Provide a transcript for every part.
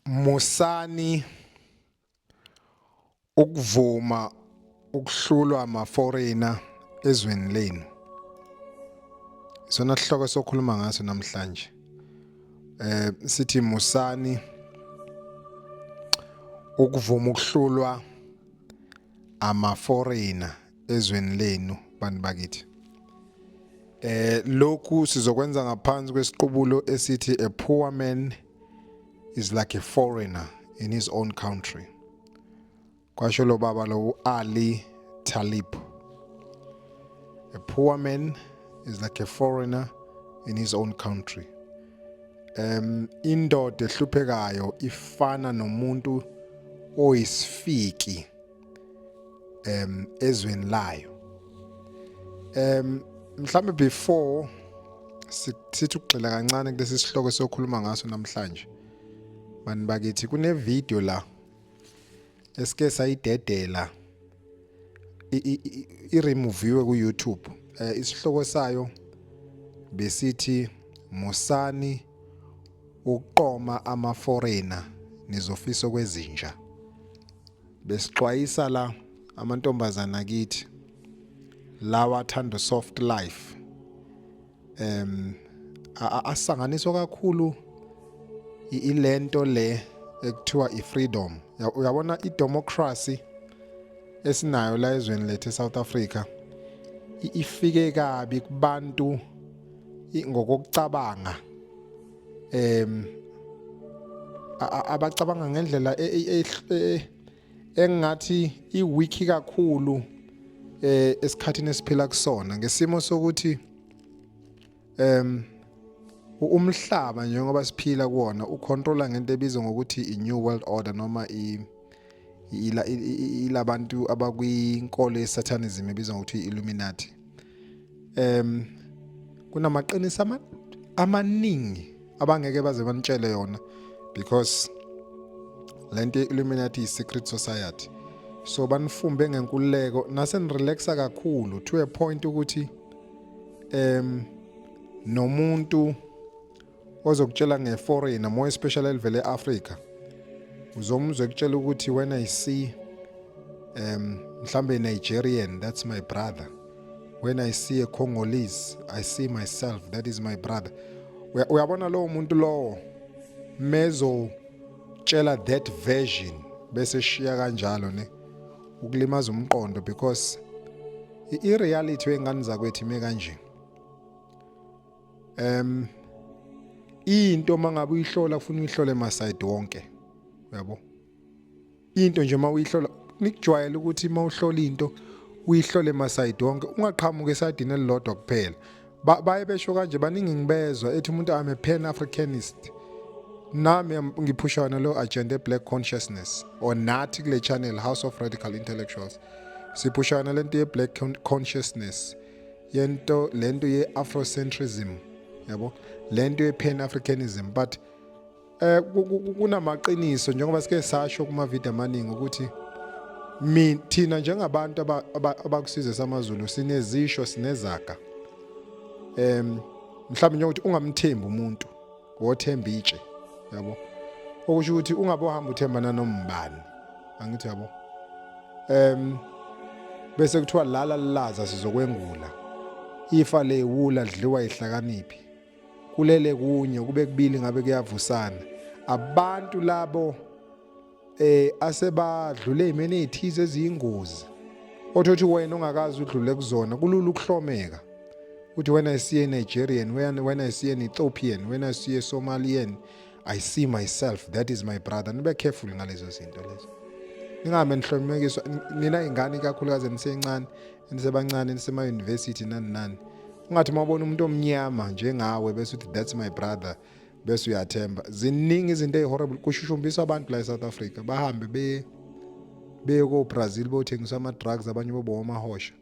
musani ukuvuma ukuhlulwa ama-foreigner ezweni lenu isona sihloko sokhuluma ngaso namhlanje eh sithi musani ukuvuma ukuhlulwa ama foreigner ezweni lenu bantu bakithi eh lokhu sizokwenza ngaphansi kwesiqubulo esithi a poor man is like a foreigner in his own country kwasho lo baba lo Ali Talib a poor man is like a foreigner in his own country um indoda ehluphekayo ifana nomuntu oyisifiki um ezweni layo um mhlawumbe before sithi ukugxila kancane kulesi sihloko sokhuluma ngaso namhlanje bani bakithi kunevideo la esike sayidedela iremoviwe ku-YouTube eh, isihloko sayo besithi musani ukuqoma ama-foreigner nizofisa okwezinja besixwayisa la amantombazana kithi lawa athanda soft life em asanganiswa kakhulu ilento le ekuthiwa ifreedom uyabona idemocracy esinayo la ezweni lethu eSouth Africa ifike kabi kubantu ngokucabanga em abacabanga ngendlela e, e, e, engathi iwiki kakhulu eh esikhathini esiphila kusona ngesimo sokuthi em umhlaba njengoba siphila kuona ucontrola ngento ebizwa ngokuthi i-new world order noma i ilabantu abakwinkolo yesatanism ebizwa ngokuthi i-illuminati em kunamaqiniso amaningi abangeke baze banitshele yona because lento Illuminati is secret society so banifumbe ngenkululeko nase nirelaxa kakhulu to a point ukuthi em nomuntu ozokutshela nge-foreigner more especially elivele e-afrika uzomuzwa ekutshela ukuthi when i see um mhlambe nigerian that's my brother when i see a congolese i see myself that is my brother uyabona lowo muntu lowo mezotshela that version bese shiya kanjalo ne ukulimaza umqondo because i-reality wengane zakwethu ime kanje em into mangabe uyihlola ufuna uyihlole ma side wonke uyabo into nje uma uyihlola nikujwayele ukuthi uma uhlola into uyihlole ma side wonke ungaqhamuka esadini elilodwa kuphela baye besho kanje baningi ngibezwa ethi umuntu I'm a pan africanist nami ngiphushana lo agenda black consciousness or nathi kule channel house of radical intellectuals siphushana lento ye black consciousness yento lento ye afrocentrism yabo lento ye pan africanism but eh kunamaqiniso njengoba sike sasho kuma video amaningi ukuthi mina thina njengabantu abakusizwe samaZulu sinezisho sinezaga em mhlawumbe njengokuthi ungamthembi umuntu wothemba itshe yabo okusho ukuthi ungabe uhamba uthembana nombani angithi yabo em bese kuthiwa lala lilaza sizokwengula ifa lewula lidliwa ihlakaniphi kulele kunye kube kubili ngabe kuyavusana abantu labo eh asebadlule imene ethize eziyingozi othothi wena ongakazi udlule kuzona kulula ukuhlomeka uthi when i see a nigerian when, when i see an ethiopian when i see a somalian i see myself that is my brother nibe careful ngalezo zinto lezo ningahambe nihlomekiswa nina ingane ikakhulukazi enisencane enisebancane enisema-university nani nani ungathi uma ubona umuntu omnyama njengawe bese uthi that's my brother bese uyathemba ziningi izinto ezihorrible kushushumbiswa abantu la eSouth Africa bahambe be beye ko Brazil bothengisa ama drugs abanye bobo amahosha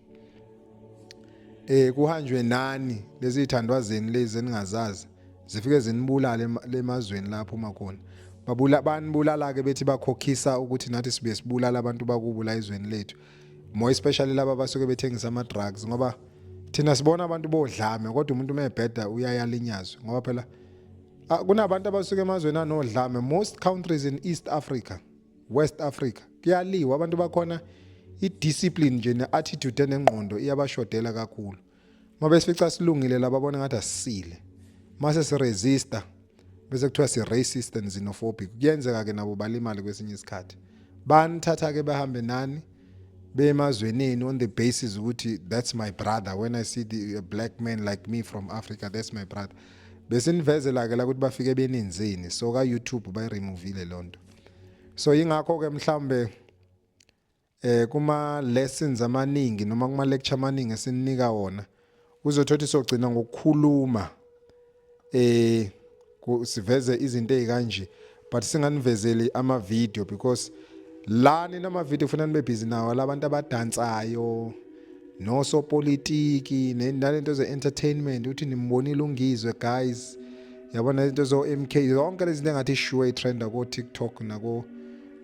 eh kuhanjwe nani lezi ithandwa zeni lezi eningazazi zifike zinibulale lemazweni lapho uma khona babula banibulala ke bethi bakhokhisa ukuthi nathi sibe sibulala abantu bakubo la izweni lethu more especially laba basuke bethengisa ama drugs ngoba thina sibona abantu bodlame kodwa umuntu umebheda uyayalinyazwa ngoba phela ah, kunabantu abasuke emazweni anodlame most countries in East Africa West Africa kuyaliwa abantu bakhona i-discipline nje ne-attitude enengqondo iyabashodela kakhulu uma besifica silungile laba bona ngathi asisile mase siresista bese kuthiwa si-racist and xenophobic kuyenzeka-ke nabo balimale kwesinye isikhathi banithatha-ke bahambe nani bemazweneni on the basis ukuthi that's my brother when i see the, a black man like me from africa that's my brother besinivezela-ke la ukuthi bafike benenzeni so ka-youtube bayiremuvile loo nto so yingakho-ke mhlawumbe eh kuma lessons amaningi noma kuma lecture amaningi esininika wona uzothothi sogcina ngokukhuluma eh siveze izinto ezikanje but singanivezeli ama video because la nina ama video kufanele nibe busy nawo labantu abadansayo nosopolitiki nalento ze entertainment uthi nimbonile ungizwe guys yabona into zo MK yonke lezi zinto engathi sure itrenda ko TikTok nako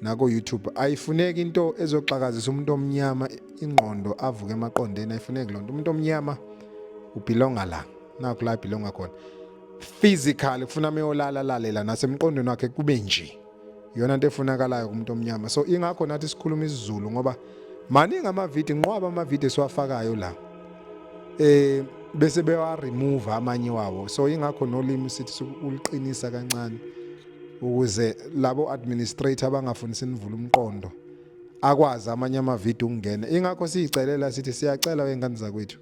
nako YouTube ayifuneki into ezoxakazisa umuntu omnyama ingqondo avuke emaqondeni ayifuneki lonto umuntu omnyama ubelonga la nakho la belonga khona physical kufuna meyolala lalela nasemqondweni wakhe kube nje yona into efunakalayo kumuntu omnyama so ingakho nathi sikhuluma isiZulu ngoba maningi amavidiyo nqwaba amavidiyo esiwafakayo la eh bese bewa remove amanye wawo so ingakho nolimi sithi uliqinisa kancane ukuze labo administrator abangafuni sinivule umqondo akwazi amanye amavidiyo ukungena ingakho siyicelela sithi siyacela wengane zakwethu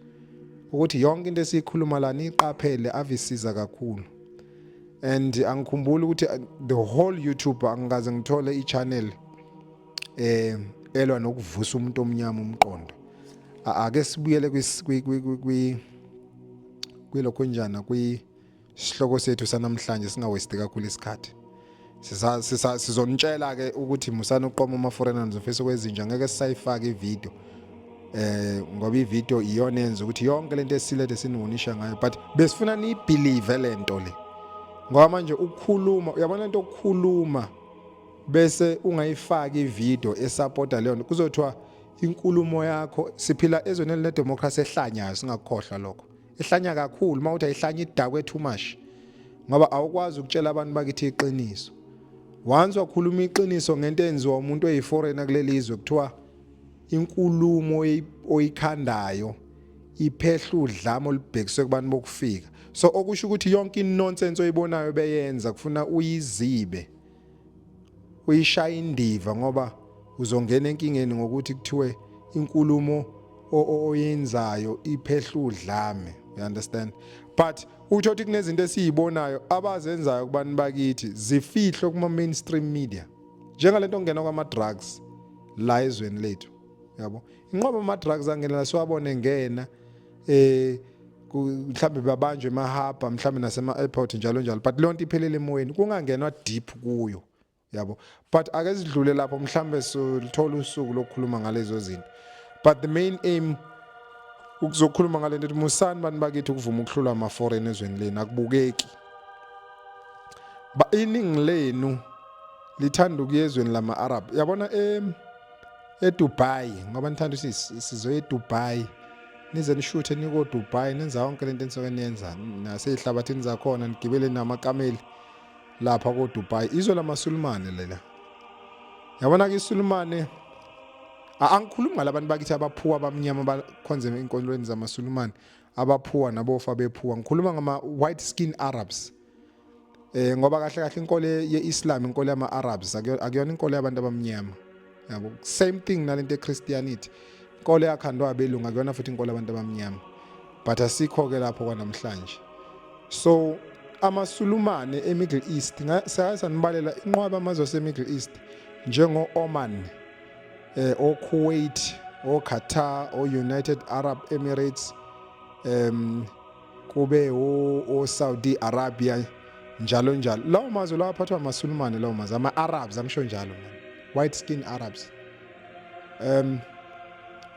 ukuthi yonke into esiyikhuluma la niqaphele avisiza kakhulu and angikhumbuli ukuthi uh, the whole YouTube angikaze ngithole i-channel eh elwa nokuvusa umuntu omnyama umqondo ake sibuyele kwi kwilokho njana kwi Isihloko sethu sanamhlanje singawesti kakhulu isikhathi. Siza siza sizonitshela ke ukuthi musani uqoma ama foreign animals office kwezinja ngeke sisayifaka ivideo. Eh ngoba ivideo iyona yenza ukuthi yonke lento esilethe siniwonisha ngayo but besifuna ni believe lento le. Ngoba manje ukukhuluma uyabona into ukukhuluma bese ungayifaki ivideo esupporta leyo nto kuzothiwa inkulumo yakho siphila ezweni elinedemocracy ehlanyayo singakukhohlwa lokho ihlanya kakhulu uma uthi ayihlanya idakwe too much ngoba awukwazi ukutshela abantu bakithi iqiniso once wakhuluma iqiniso ngento enziwa umuntu oyiforeigner kuleli izwe kuthiwa inkulumo oyikhandayo iphehla udlame olubhekiswe kubantu bokufika so okusho ukuthi yonke inonsense oyibonayo beyenza kufuna uyizibe uyishaya indiva ngoba uzongena enkingeni ngokuthi kuthiwe inkulumo oyenzayo iphehla udlame you understand but utho ukuthi kunezinto esiyibonayo abazenzayo kubantu bakithi zifihlwe kuma mainstream media njengalento ongena kwama drugs la ezweni lethu yabo inqobo ama drugs angena siwabone ngena eh mhlawumbe babanjwe emahaba mhlawumbe nasema-airport njalo njalo but leyo nto iphelele emoyeni kungangenwa deep kuyo yabo but ake sidlule lapho mhlawumbe silithola usuku lokukhuluma ngalezo zinto but the main aim ukuzokhuluma ngale nto musani bantu bakithi ukuvuma ukuhlulwa ama-foreign ezweni lenu akubukeki iningi lenu lithanda ukuya ezweni lama-arab yabona um eDubai ngoba nithanda ukuthi sizoya eDubai nize nishuthe nikoDubai nenza yonke lento enisuke niyenza nasezihlabathini zakhona nigibele namakameli lapha koDubai izwe lamaSulumane lela yabona ke iSulumane angikhulumi ngalabantu bakithi abaphuwa abamnyama abakhonze enkonzweni zamaSulumane abaphuwa nabofa bephuwa ngikhuluma ngama white skin Arabs eh ngoba kahle kahle inkolo yeIslam inkolo yama-Arabs akuyona inkolo yabantu abamnyama yabo same thing nalento eChristianity inkolo yakhandwa abelungu akuyona futhi inkolo yabantu abamnyama but asikho ke lapho kwanamhlanje so amasulumane eMiddle East sake sanibalela inqwaba amazwe aseMiddle East njengo-Oman eh oKuwait oQatar oUnited Arab Emirates um kube oSaudi Arabia njalo njalo lawo mazwe lawo aphathwa amaSulumane lawo mazwe ama-Arabs angisho njalo man white skin Arabs um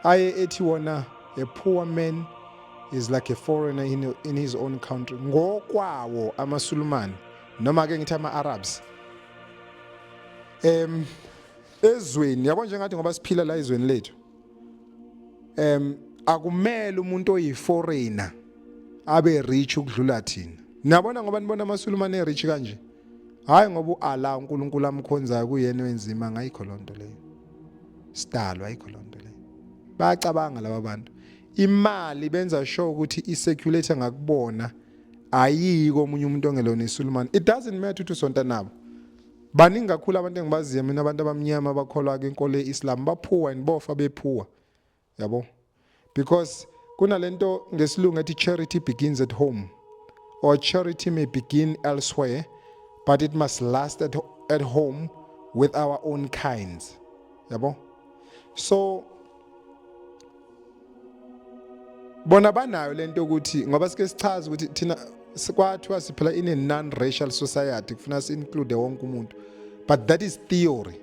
aye ethi wona a poor man is like a foreigner in, in his own country ngokwawo amaSulumane noma ke ngithi ama-Arabs em ezweni yabo njengathi ngoba siphila la ezweni lethu em akumele umuntu oyiforeigner abe rich ukudlula thina niyabona ngoba nibona amasulumane rich kanje hayi ngoba uAllah uNkulunkulu amkhonzayo kuyena wenzima ngayikho lonto leyo sidalwa ayikho lonto leyo bayacabanga laba bantu imali benza sure ukuthi iseculator ngakubona ayiko omunye umuntu ongelona isulumane it doesn't matter ukuthi usonta nabo baningi kakhulu abantu engibaziyo mina abantu abamnyama abakholwa ke inkolo yeIslam baphuwa and bofa bephuwa yabo because kunalento ngesilungu ethi charity begins at home or charity may begin elsewhere but it must last at, at home with our own kinds yabo so bona banayo lento ukuthi ngoba sike sichaza ukuthi thina kwathiwa siphila in a non-racial society kufuna si-include wonke umuntu but that is theory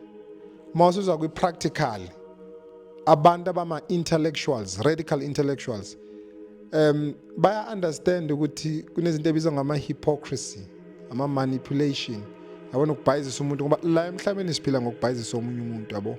uma usuzwa kwi-practical abantu abama-intellectuals radical intellectuals um baya-understand ukuthi kunezinto ebizwa ngama-hypocrisy ama-manipulation yabona ukubhayizisa umuntu ngoba la emhlabeni siphila ngokubhayizisa omunye umuntu yabo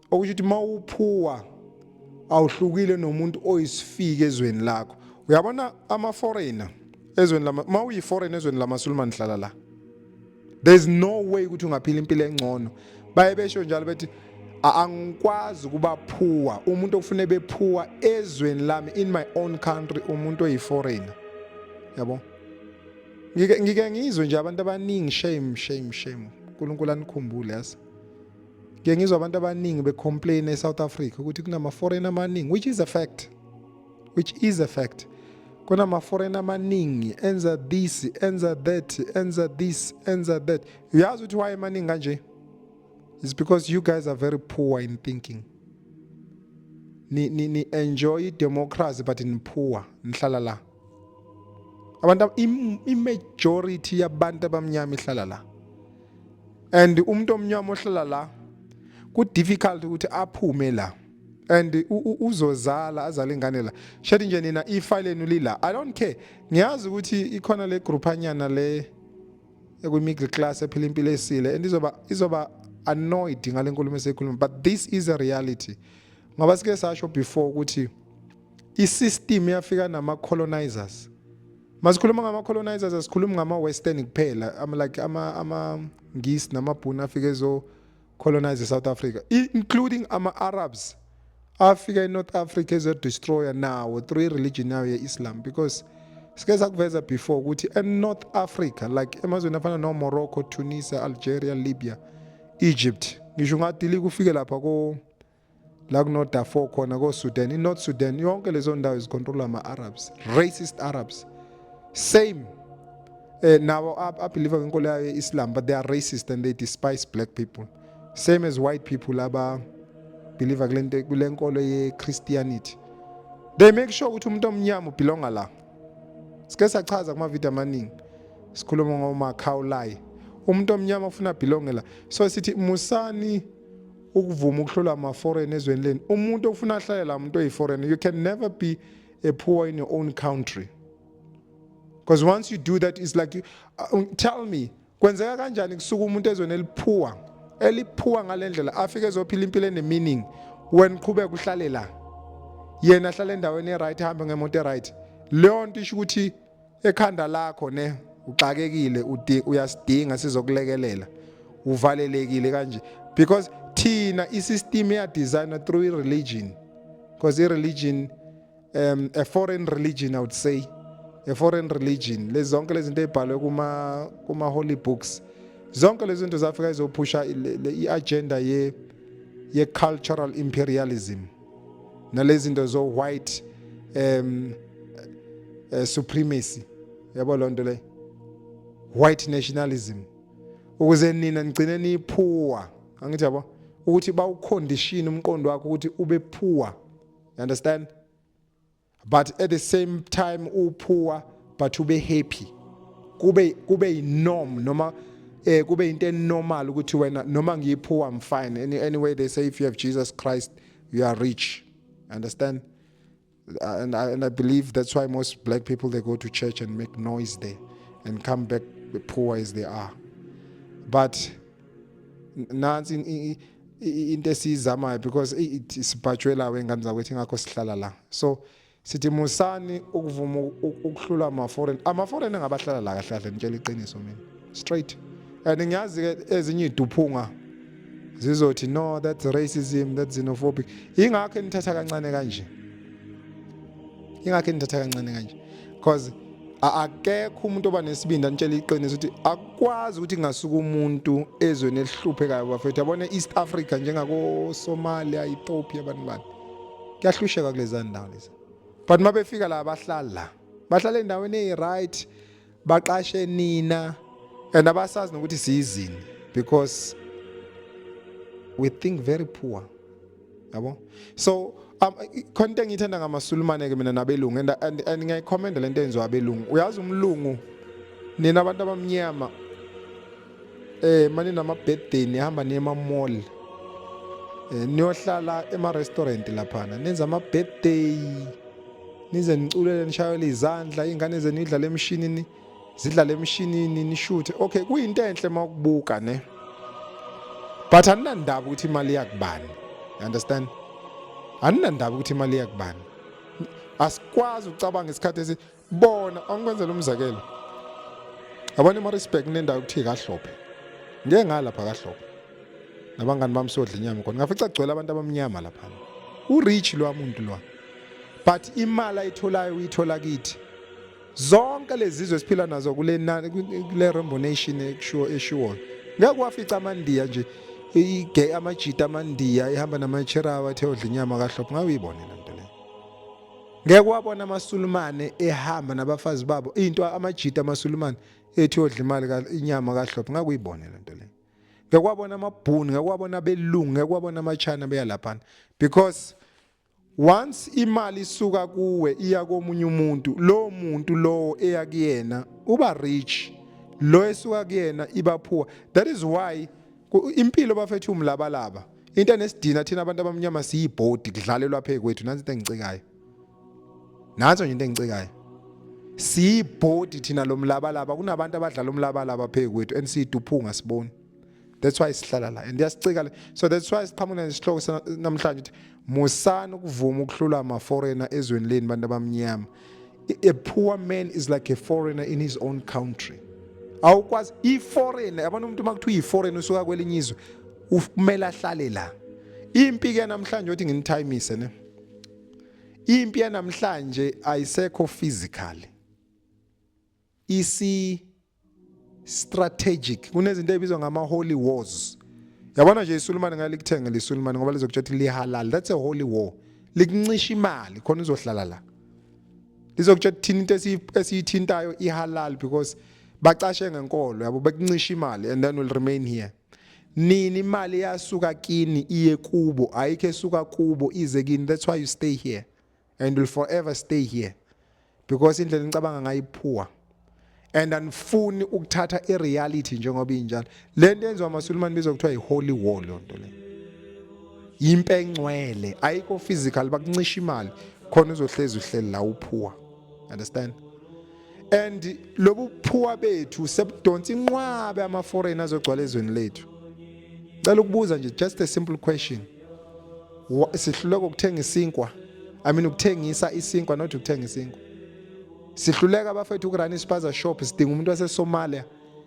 okusho ukuthi mawuphuwa awuhlukile nomuntu oyisifike ezweni lakho uyabona ama foreigner ezweni lama mawuyi foreigner ezweni lamasulumane hlala la there's no way ukuthi ungaphila impilo engcono baye besho njalo bethi angikwazi ukuba phuwa umuntu okufune bephuwa ezweni lami in my own country umuntu oyiforeigner yabo ngike ngizwe nje abantu abaningi shame shame shame uNkulunkulu anikhumbule yasa Ngike ngizwa abantu abaningi becomplain eSouth Africa ukuthi kunama foreign amaningi which is a fact. Which is a fact. Kunama foreign amaningi enza this, enza that, enza this, enza that. Uyazi ukuthi why emaningi kanje? It's because you guys are very poor in thinking. Ni ni ni enjoy democracy but in poor. Nihlala la. abantu imajority yabantu abamnyama ihlala la and umuntu omnyama ohlala la ku difficult ukuthi aphume la and uzozala azale ingane la shathi nje nina ifa lenu lila i don't care ngiyazi ukuthi ikhona le group anyana le ekwi middle class ephila impilo esile and izoba izoba annoyed ngale nkulumo esekhuluma but this is a reality ngoba sike sasho before ukuthi isystem yafika nama colonizers masikhuluma ngama colonizers asikhulumi ngama western kuphela ama like ama ama ngisi namabhunu afike zo colonize South Africa including ama Arabs afika eNorth Africa ezo destroyer nawo through religion yawo yeIslam because sike sakuveza before ukuthi eNorth Africa like emazweni afana no Morocco, Tunisia, Algeria, Libya, Egypt ngisho ungadili kufike lapha ko la kunoDarfur khona koSudan iNorth Sudan yonke lezo ndawo zicontrollwa ama-Arabs racist Arabs same eh nabo abelieve kwinkolo yayo ye-Islam but they are racist and they despise black people same as white people aba believer kulento kulenkolo ye-Christianity they make sure ukuthi umuntu omnyama ubelonga la sike sachaza kuma video amaningi sikhuluma ngomakhawulayi umuntu omnyama ufuna belonge la so sithi musani ukuvuma ukuhlolwa ama-foreign ezweni leni umuntu ofuna ahlale la muntu oyi-foreign you can never be a poor in your own country because once you do that it's like you, uh, tell me kwenzeka kanjani kusuka umuntu ezweni eliphuwa eliphuwa ngale ndlela afike ezophila impilo ene-meaning wena uqhubeka uhlale la yena ahlale endaweni e-right ahambe ngemoto e-right leyo nto isho ukuthi ekhanda lakho ne uxakekile uyasidinga sizokulekelela uvalelekile kanje because thina isystem ya designer through religion because i religion um a foreign religion i would say a foreign religion lezi zonke lezi zinto ezibhalwe kuma kuma holy books zonke lezi zinto zafika izophusha i agenda ye ye cultural imperialism nalezi zinto zo white um uh, supremacy yabo lonto le white nationalism ukuze nina nigcine niphuwa angithi yabo ukuthi bawucondition umqondo wakho ukuthi ube phuwa you understand but at the same time uphuwa but ube happy kube kube inorm noma eh kube into enormal ukuthi wena noma ngiyiphuwa I'm fine Any, anyway they say if you have Jesus Christ you are rich understand uh, and I, and I believe that's why most black people they go to church and make noise there and come back poor as they are but nansi into esiyizamayo because sibhajwe la wengane zakwethu ingakho sihlala la so sithi musani ukuvuma ukuhlula ama-foreign ama-foreign engabahlala la kahle kahle ngitshela iqiniso mina straight and ngiyazi-ke ezinye iy'duphunga zizothi no that's racism that's xenophobic yingakho enithatha kancane kanje ingakhe nithatha kancane kanje because akekho umuntu oba nesibindi anitshela iqiniso ukuthi akwazi ukuthi ngasuka umuntu ezweni elihluphekayo bafethu yabona e-east africa njengakosomalia ethiopia abantu bani kuyahlusheka kulezaa ndawo lezi but uma befika la bahlala la bahlala endaweni eyi-right baqashe nina and abasazi nokuthi siyizini because we think very poor yabo so um, khona into engiyithanda ngamasulumane ke mina nabelungu and, and, and ngiyayikhomenda le nto yenziwa abelungu uyazi umlungu nina abantu abamnyama Eh mani nama birthday nihamba niye ema mall. Eh niyohlala ema restaurant laphana. Nenza ama birthday. Nize niculele nishayele izandla ingane zenu idlala emshinini zidlala emshinini nishuthe. Okay kuyinto enhle makubuka ne. But aninandaba ukuthi imali yakubani. You understand? Aninandaba ukuthi imali yakubani. Asikwazi ucabanga isikhathi bona angikwenzela umzekelo abanye emarisburg kunendawo ekuthiye kahlophe ngeke ngalapha kahlophe nabangani bami sodla inyama khona ngafica kugcwele abantu abamnyama laphana urich lwa muntu lwa but imali ayitholayo uyithola kithi zonke lezizwe esiphila nazo kule kule Rainbow Nation ekushiwo eshiwo ngeke wafica amandiya nje igay amajita amandiya ihamba namacherawa ethe odla inyama kahlophe ngabe uyibonela Ngeke wabona amaSulumane ehamba nabafazi babo into amajita amaSulumane ethi odla imali inyama kahlophe ngakuyibone lento le. Ngeke wabona amabhuni, ngeke wabona belungu, ngeke wabona amachana beya laphana because once imali isuka kuwe iya komunye umuntu, lowo muntu lowo eya kuyena uba rich. Lo esuka kuyena iba poor. That is why impilo bafethu umlabalaba. into enesidina thina abantu abamnyama siyibhodi kudlalelwa phe kwethu nansi into engicikayo nanso nje into engicikayo siyibhodi thina lomlabalaba kunabantu abadlala umlabalaba phe kwethu and siyiduphunga siboni that's why sihlala la and yasicika so that's why siqhamuka nesihloko namhlanje ukuthi musani ukuvuma ukuhlula ama foreigner ezweni leni bantu abamnyama a poor man is like a foreigner in his own country awukwazi i-foreigner yabona umuntu uma kuthiwa iyi-foreigner usuka kwelinye izwe Kumele ahlale la. Impi ke namhlanje uthi nginithimise ne. Impi yanamhlanje ayisekho physical. Isi strategic. Kunezinto ezibizwa ngama holy wars. Yabona nje iSulumane ngale kuthenge leSulumane ngoba lizokuthatha lihalal. That's a holy war. Likuncisha imali khona uzohlala la. Lizokuthatha thina into esiyithintayo ihalal because bacashe ngenkolo yabo bekuncisha imali and then will remain here. Nini imali yasuka kini iye kubo ayikho esuka kubo ize kini that's why you stay here and will forever stay here because indlela nicabanga ngayo iphuwa and anifuni ukuthatha ireality njengoba injalo le nto yenziwa amasulumane bizwa kuthiwa yi-holy war loo nto le yimpe engcwele ayikho physical bakuncisha imali khona uzohlezi uhleli la uphuwa understand and lobu phuwa bethu sebudonsa inqwabe ama foreign azogcwala ezweni lethu cela ukubuza nje just a simple question sihluleka ukuthenga isinkwa i mean ukuthengisa isinkwa not ukuthenga isinkwa sihluleka abafethu ukurana ispaza shop sidinga umuntu wasesomalia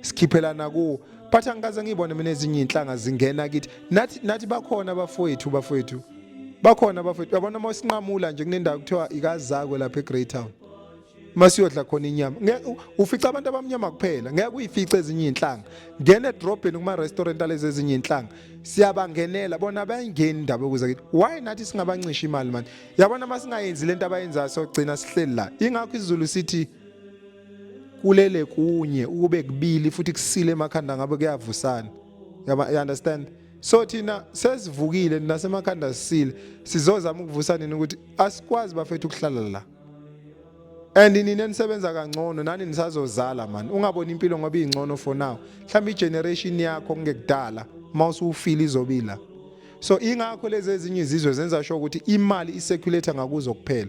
sikhiphelana kuwo but angikaze ngiyibone mina ezinye inhlanga zingena kithi nathi nathi bakhona abafowethu bafowethu bakhona abafowethu yabona uma sinqamula nje kunendawo kuthiwa ikazakwe lapha eGreytown masiyodla khona inyama ufica abantu abamnyama kuphela ngeke uyifice ezinye izinhlanga ngene edrobheni kuma restaurant alezi ezinye izinhlanga siyabangenela bona bayingeni indaba yokuza kithi why nathi singabancisha imali manje yabona masingayenzi lento abayenzayo sogcina sihleli la ingakho isizulu sithi kulele kunye ukube kubili futhi kusile emakhanda ngabe kuyavusana yaba you understand so thina sesivukile nasemakhanda sisile sizozama ukuvusa nini ukuthi asikwazi bafethu ukuhlala la and nina nisebenza kangcono nani nisazozala mani ungaboni impilo ngoba ingcono for now mhlawumbe igeneration yakho kungekudala uma usuwufile izobila so ingakho lezi ezinye izizwe zenza sho ukuthi imali iseculator ngakuzo kuphela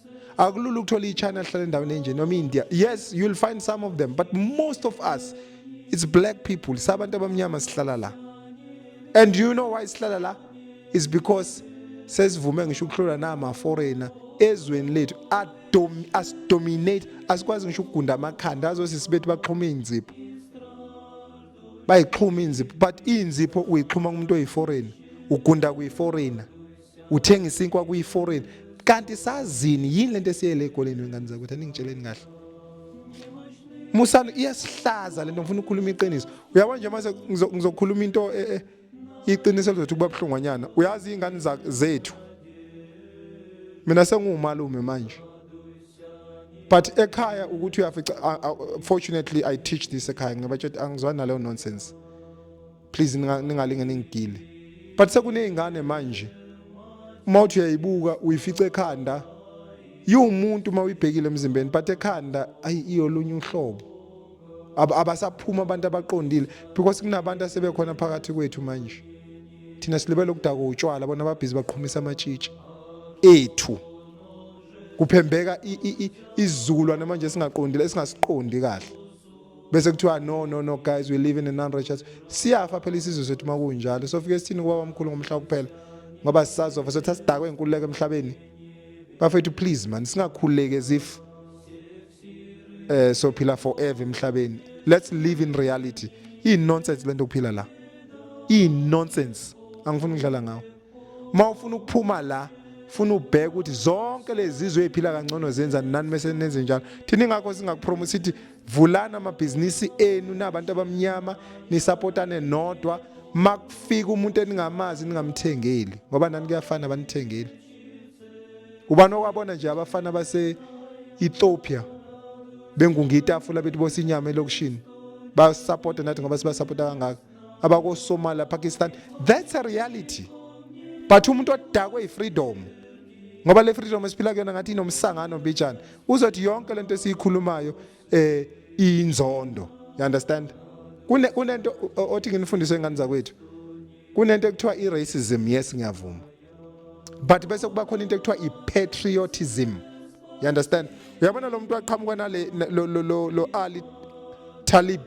akulula ukuthola ichina lihlala endaweni enje noma india yes you'll find some of them but most of us it's black people sabantu abamnyama sihlala la and you know why sihlala la is because sesivume ngisho ukuhlula nama foreigner ezweni lethu asidominate asikwazi ngisho ukugunda amakhanda azothi sibethi baxhuma iy'nzipho bayixhuma iy'nzipho but iy'nzipho uyixhuma kumuntu oyi-foreigner ugunda kuyi-foreigner uthenge isinkwa kuyi-foreign kanti sazini yini lento esiyele egoleni wengane zakwethu aningitsheleni kahle musana iyasihlaza lento ngifuna ukukhuluma iqiniso uyabo nje mase ngizokhuluma into e, e, iqiniso lizothi kuba buhlungwanyana uyazi iy'ngane zethu mina senguwumalume manje but ekhaya ukuthi uyafica fortunately i teach this ekhaya ngibatshela angizwani naleyo nonsense please ningalinge ningigile but sekuney'ngane manje uma uthi uyayibuka uyifice ekhanda yiwumuntu uma uyibhekile emzimbeni but ekhanda ayi iyolunye uhlobo abasaphuma abantu abaqondile because kunabantu asebekhona phakathi kwethu manje thina silibele ukudaka utshwala bona ababhizi baqhumisa amatshitshi ethu kuphembeka izizukulwane manje singaqondile esingasiqondi kahle bese kuthiwa no no no guys we live in a non-righteous siyafa phela isizwe sethu uma kunjalo sofike sithini kuba bamkhulu ngomhla kuphela ngoba sisazofa sothi asidakwe inkululeko emhlabeni bafethu please man singakhululeki as if eh sophila forever emhlabeni let's live in reality iyi nonsense lento kuphila la iyi nonsense angifuni ukudlala ngawo uma ufuna ukuphuma la funa ubheke ukuthi zonke lezi zizwe eziphila kangcono zenza nani mese nenze njalo thina ingakho singakupromote sithi vulani amabhizinisi enu nabantu abamnyama nisapotane nodwa makufika umuntu eningamazi ningamthengeli ngoba nani kuyafana banithengeli ubani okwabona nje abafana base Ethiopia bengungitafula bethi bosinyama elokushini basupporta nathi ngoba sibasupporta kangaka abakosomalia pakistan that's a reality but umuntu odakwe yifreedom ngoba le freedom esiphila kuyona ngathi inomsangano mbijana uzothi yonke lento esiyikhulumayo eh inzondo you understand kune kunento othi nginifundise ingane zakwethu kunento ekuthiwa i racism yes ngiyavuma but bese kuba khona into ekuthiwa i-patriotism you understand uyabona lo muntu waqhamuka nale lo, lo, lo, lo ali talib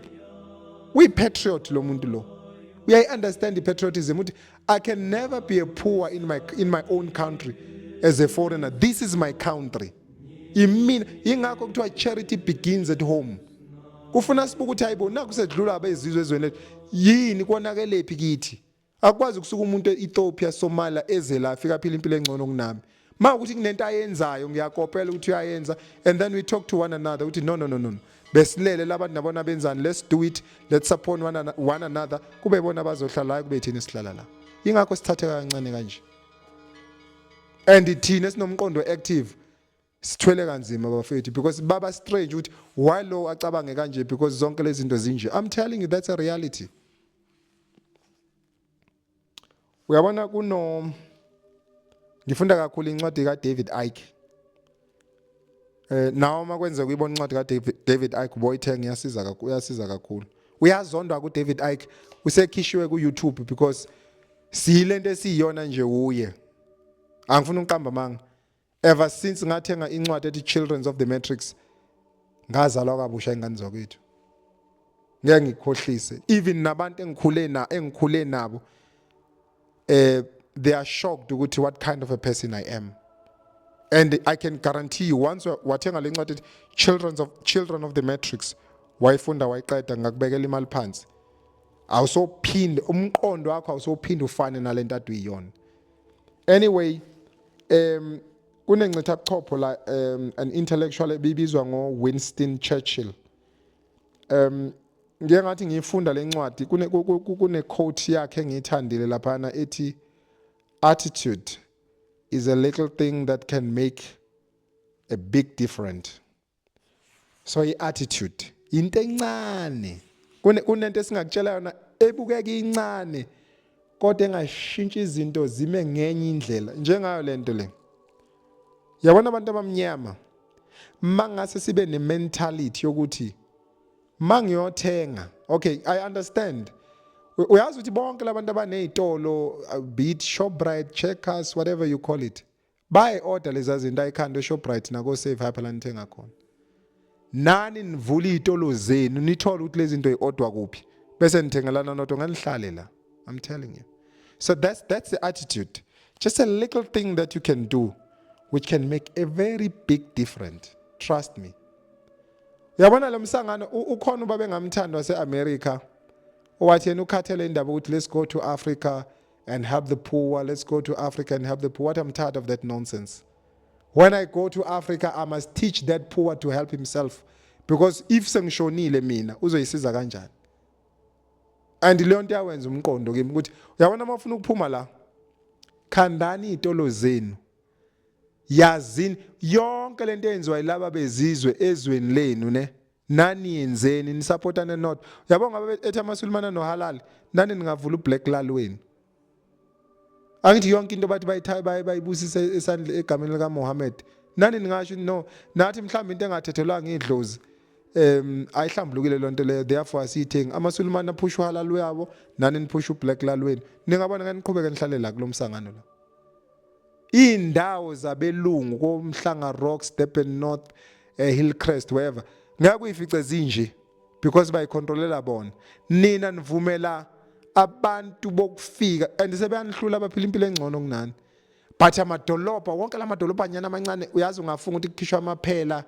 uyi-patriot lo muntu lo uyayi-understand i-patriotism ukuthi i can never be a poor in my, in my own country as a foreigner this is my country imina yingakho kuthiwa charity begins at home kufuna sibuke ukuthi hayibo naku sedlula abezizwe ezweni lethu yini konakelephi kithi Akwazi kusuka umuntu e-Ethiopia, Somalia eze la afika phila impilo engcono kunami. Uma ukuthi kunento ayenzayo ngiyakopela ukuthi uyayenza and then we talk to one another ukuthi no no no no. Besilele labantu nabona benzani let's do it let's support one, an one another kube bona bazohlala la kube thina sihlala la. Ingakho sithatheka kancane kanje. And thina sinomqondo active sithwele kanzima bafethu because baba strange ukuthi why lo acabange kanje because zonke lezi zinto zinje i'm telling you that's a reality uyabona kuno ngifunda kakhulu incwadi ka David Icke eh nawo uma kwenzeka uyibona incwadi ka David Icke boyithenge yasiza kakhulu yasiza kakhulu uyazondwa ku David Icke usekhishiwe ku YouTube because siyilento esiyiyona nje uye angifuni uqamba manga Ever since ngathenga incwadi ethi Children's of the Matrix ngazalwa kabusha ingane zakwethu. Ngeke ngikhohlise. Even nabantu engikhule na engikhule nabo eh they are shocked ukuthi what kind of a person I am. And I can guarantee you once wathenga lencwadi ethi Children's of Children of the Matrix wayifunda wayiqeda ngakubekela imali phansi. Awusophinde umqondo wakho awusophinde ufane nalento aduyiyona. Anyway um kunencitha buchopho la um an intellectual ebibizwa ngo-winston churchill um ngiye ngathi ngiyifunda le ncwadi kune-quote yakhe engiyithandile laphana ethi attitude is a little thing that can make a big difference so i-attitude into encane kunento esingakutshela yona ebukeka incane kodwa engashintsha izinto zime ngenye indlela njengayo le nto le yabona abantu abamnyama mangase sibe ne-mentality yokuthi mangiyothenga okay i understand uyazi ukuthi bonke labantu abanezitolo uh, beat shoprite checkers whatever you call it bayi order leza zinto ayikhanda eShoprite nako Save Hyper la nithenga khona nani nivula izitolo zenu nithole ukuthi lezi zinto iodwa kuphi bese nithengelana noto nganihlale la i'm telling you so that's that's the attitude just a little thing that you can do which can make a very big difference trust me uyabona lo msangano ukhona uba bengamthanda waseAmerica owathi yena ukhathele indaba ukuthi let's go to Africa and help the poor. Let's go to Africa and help the poor. What I'm tired of that nonsense. When I go to Africa, I must teach that poor to help himself. Because if sengishonile mina, uzoyisiza kanjani? And leyo nto yawenza umqondo kimi ukuthi uyabona uma ufuna ukuphuma la, khandani iy'tolo zenu. Yazini yonke lento eyenziwa yilaba bezizwe ezweni lenu ne. Nani yenzeni ni support ne not. Yabo ngabe ethi amasulumana no halal nani ningavula ublack lal wenu. Angithi yonke into bathi bayithayi baye bayibusisa esandle egameni lika Muhammad. Nani ningasho no nathi mhlawumbe into engathethelwanga idlozi um ayihlambulukile lonto leyo therefore asiyithengi amasulumane aphusha uhalal wabo nani niphusha ublack lal wenu ningabona ngani niqhubeke nihlalela kulomsangano la iy'ndawo zabelungu komhlanga rocks durban north eh, hillcrest wherever ngeke uyifice zinje because bayikhontrolela bona nina nivumela abantu bokufika and sebeyanihlula abaphila impilo engcono kunani but amadolobha wonke la madolobhanyana amancane uyazi ungafunga ukuthi kukhishwa amaphela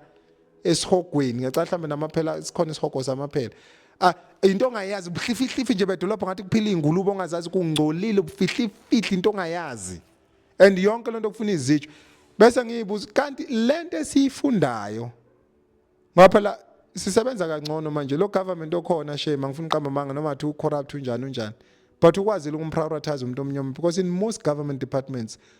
esihogweni ngicela mhlawumbe namaphela sikhona isihogo samaphela ah into ongayazi ubuhlifihlifi nje bedolobha ngathi kuphila ingulube ongazazi kungcolile ubufihlifihli into ongayazi and yonke lento kufuna izitsho bese ngiyibuza kanti lento esiyifundayo ngoba phela sisebenza kangcono manje lo government okhona shame angifuni uqamba manga noma athi ucorrupt unjani unjani but ukwazile ukumprioritize umuntu omnyama because in most government departments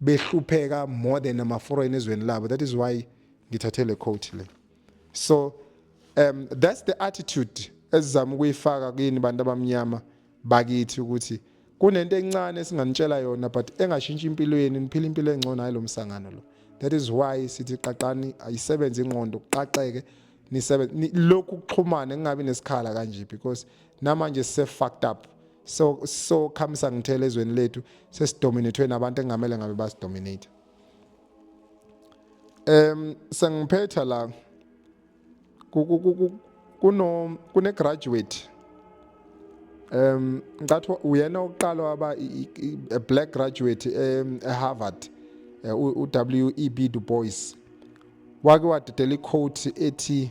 behlupheka more than ama foreign ezweni labo that is why ngithathe le quote le so um that's the attitude esizama ukuyifaka kini bantu abamnyama bakithi ukuthi kunento encane esinganitshela yona but engashintsha impilo yenu niphila impilo engcono hayi lo msangano lo that is why sithi qaqani ayisebenze ingqondo kuqaqeke nisebenze lokhu kuxhumana kungabi nesikhala kanje because namanje se fucked up so so khamisa ngithele ezweni lethu sesidominatwe nabantu engamele ngabe basidominate em sengiphetha la kuno kune graduate um ngathi uyena oqala waba a black graduate um, e Harvard eh, u WEB Du Bois wake wadedela iquote ethi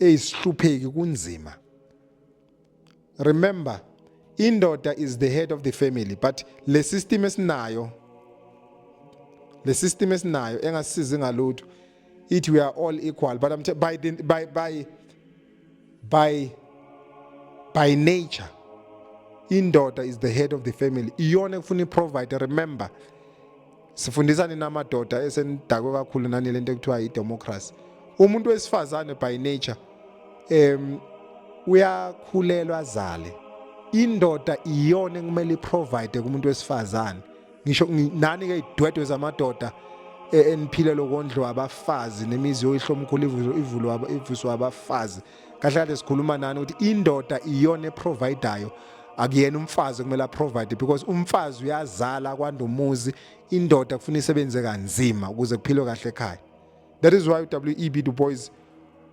eyi sihlupheki kunzima remember indoda is the head of the family but le system esinayo le system esinayo engasisizi ngalutho ithi we are all equal but I'm t- by, the, by, by, by, by nature indoda is the head of the family iyona ekufuna i-provider remember sifundisa nina amadoda esenidakwe kakhulu nani lento ekuthiwa yidemocracy umuntu wesifazane by nature um uyakhulelwa azale indoda iyona ekumele iprovide kumuntu wesifazane ngisho nani ke idwedwe zamadoda e, eniphile lokondliwa abafazi nemizi yoyihlomkhulu ivulwa ivuswa abafazi kahle kahle sikhuluma nani ukuthi indoda iyona eprovidayo akuyena umfazi kumele aprovide because umfazi uyazala kwanda umuzi indoda kufuna isebenze kanzima ukuze kuphilwe kahle ekhaya that is why uweb du boys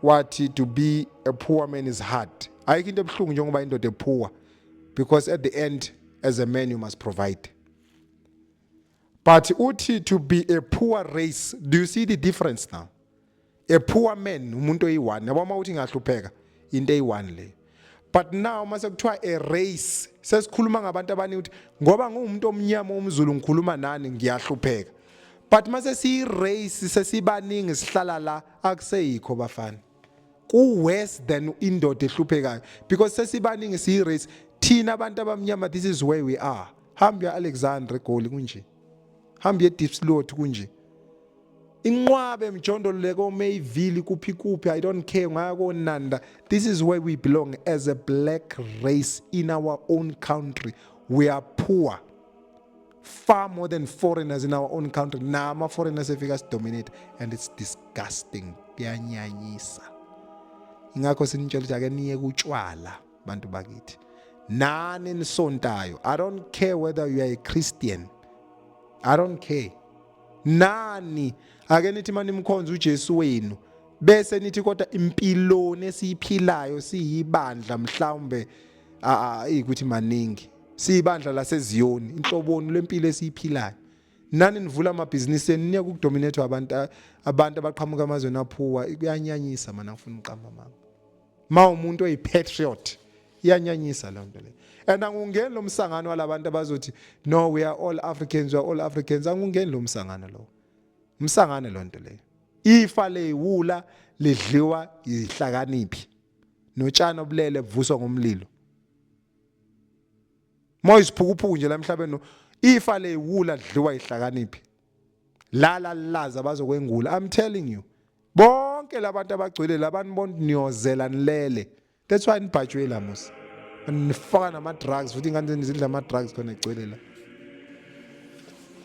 wathi to be a poor man is hard ayikho into ebuhlungu njengoba indoda ephuwa because at the end as a man you must provide But uthi to be a poor race, do you see the difference now? A poor man umuntu oyi-one yabo uma uthi ngahlupheka into eyi-one leyo but now uma sekuthiwa a race sesikhuluma ngabantu abaningi ukuthi ngoba ngiwumuntu omnyama omzulu ngikhuluma nani ngiyahlupheka but uma sesiyi-race sesibaningi sihlala la akuseyikho bafana ku worse than indoda ehluphekayo because sesibaningi siyi race thina abantu abamnyama this is where we are hamba ya Alexander Goli kunje hamba ye Deep Slot kunje inqwabe mjondolo leko Mayville kuphi kuphi i don't care ngaya ko Nanda this is where we belong as a black race in our own country we are poor far more than foreigners in our own country nama foreigners efika sidominate and it's disgusting kuyanyanyisa ingakho sinitshela ukuthi ake niye kutshwala bantu bakithi nani nisontayo i don't care whether you are a christian i don't care nani ake nithi manimkhonza uJesu wenu bese nithi kodwa impiloni esiyiphilayo siyibandla mhlawumbe ukuthi maningi siyibandla laseZiyoni inhloboni lempilo esiyiphilayo nani nivula amabhizinisi enu niya kukudominate abantu abantu abaqhamuka amazweni aphuwa kuyanyanyisa mana ngifuna uqamba mama ma umuntu oyipatriot iyanyanyisa loo nto leyo and angungeni lo msangano walabantu abazothi no we are all africans we are all africans angungeni lo msangano lowo umsangano loo nto leyo ifa leyiwula lidliwa yihlakaniphi notshani obulele buvuswa ngomlilo Moya isiphukuphuku nje la emhlabeni ifa le wula lidliwa ihlakaniphi. Lala laza bazokwengula. I'm telling you. Bonke labantu abagcwele labantu bonke niyozela nilele. That's why nibhajwe la musa. Nifaka nama drugs futhi ingane zenu zidla ama drugs khona egcwele la.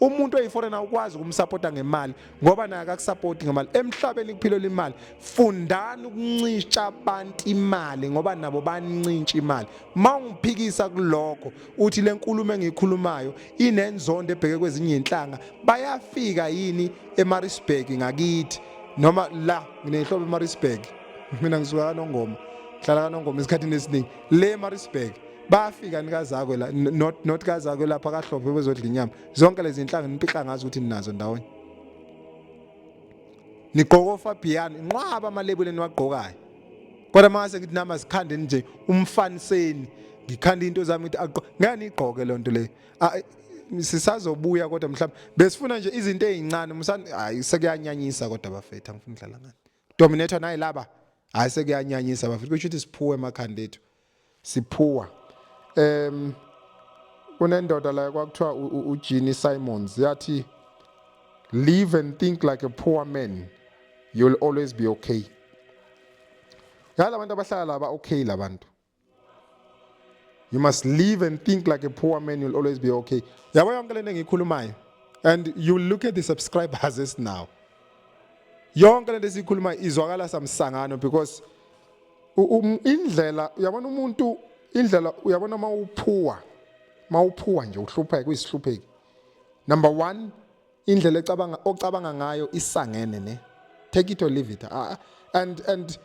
umuntu oyiforena ukwazi ukumsapota ngemali ngoba naye akakusapoti ngemali emhlabeni kuphilelwa imali fundani ukuncisha abantu imali ngoba nabo banincintsha imali uma ungiphikisa kulokho uthi le nkulumo engiyikhulumayo inenzondo ebheke kwezinye inhlanga bayafika yini emarisburg ngakithi noma la nginehlobo emarisburg mina ngisuka kanongoma hlala kanongoma esikhathini esiningi le emarisburg bayafika nikazakwe la not not kazakwe lapha kahlophe bezodla inyama zonke lezi inhlanga nipihla ngazo ukuthi ninazo ndawonye nigqoka ofabhiyani nqwaba amalebule niwagqokayo kodwa mase ngithi nama sikhande nje umfaniseni ngikhanda into zami ukuthi aqo ngeke nigqoke loo nto leyo sisazobuya kodwa mhlawumbe besifuna nje izinto ezincane msani hayi sekuyanyanyisa kodwa bafethu angifuni ukudlala ngani dominator naye laba hayi sekuyanyanyisa bafethu kusho ukuthi siphuwe emakhanda ethu siphuwa um kunendoda la kwakuthiwa uJeannie Simons yathi live and think like a poor man you'll always be okay yala abantu abahlala laba okay labantu you must live and think like a poor man you'll always be okay yabo yonke lento engiyikhulumayo and you look at the subscribers as now yonke lento esiyikhuluma izwakala samsangano because um, indlela uyabona umuntu indlela uyabona uma uphuwa uma uphuwa nje uhlupheka uyisihlupheki number one indlela ecabanga ocabanga ngayo isangene ne take it or leave it uh, and and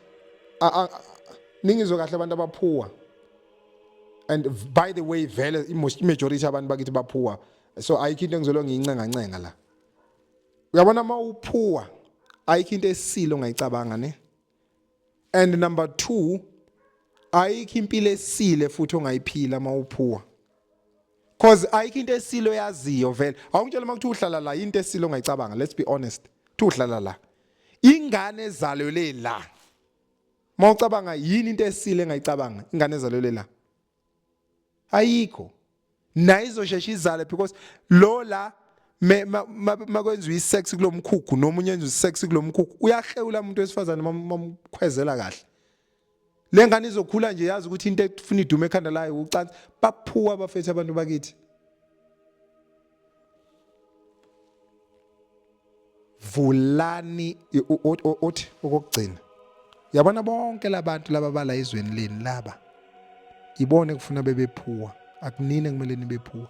uh, ningizwe kahle abantu abaphuwa and by the way vele imajority abantu bakithi baphuwa so ayikho into engizolo ngiyincengancenga la uyabona uma uphuwa ayikho into esile ongayicabanga ne and number 2 ayikho impilo esile futhi ongayiphila mawuphuwa cause ayikho into esilo yaziyo vele awungitshela uma kuthi uhlala la into esilo ongayicabanga let's be honest thi uhlala la ingane ezalwe le la mawucabanga yini into esile engayicabanga ingane ezalwe le la ayikho naye izoshesha izale because lo la makwenziwa isex kulomkhukhu noma unye enziwa isex kulomkhukhu uyahlewula umuntu wesifazane mamkhwezela kahle le ngane izokhula nje yazi ukuthi into efuna idume ekhanda layo ucansi baphuwa abafethu abantu bakithi vulani othi okokugcina yabona bonke labantu laba bala izweni leni laba ibone kufuna bebephuwa akunini kumele nibephuwa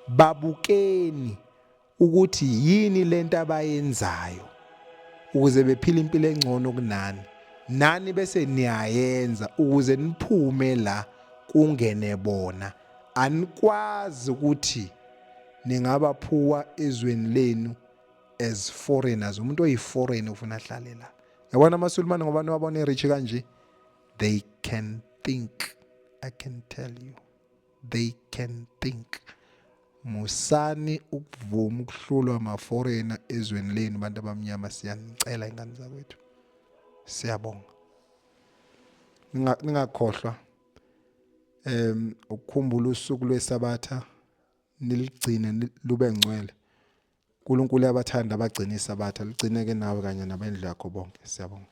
babukeni ukuthi yini lento abayenzayo ukuze bephile impilo engcono kunani nani bese niyayenza ukuze niphume la kungene bona anikwazi ukuthi ningabaphuwa ezweni lenu as foreigners umuntu oyi-foreign ufuna ahlale la yabona amasulumane ngoba niwabona e-rich kanje they can think i can tell you they can think musani ukuvuma ukuhlulwa amaforena ezweni lenu bantu abamnyama siyanicela ingane zakwethu siyabonga ningakhohlwa em ukukhumbula usuku lwesabatha niligcine ni- lube ngcwele uNkulunkulu uyabathanda abagcina isabatha ligcine ke nawe kanye nabendlu yakho bonke siyabonga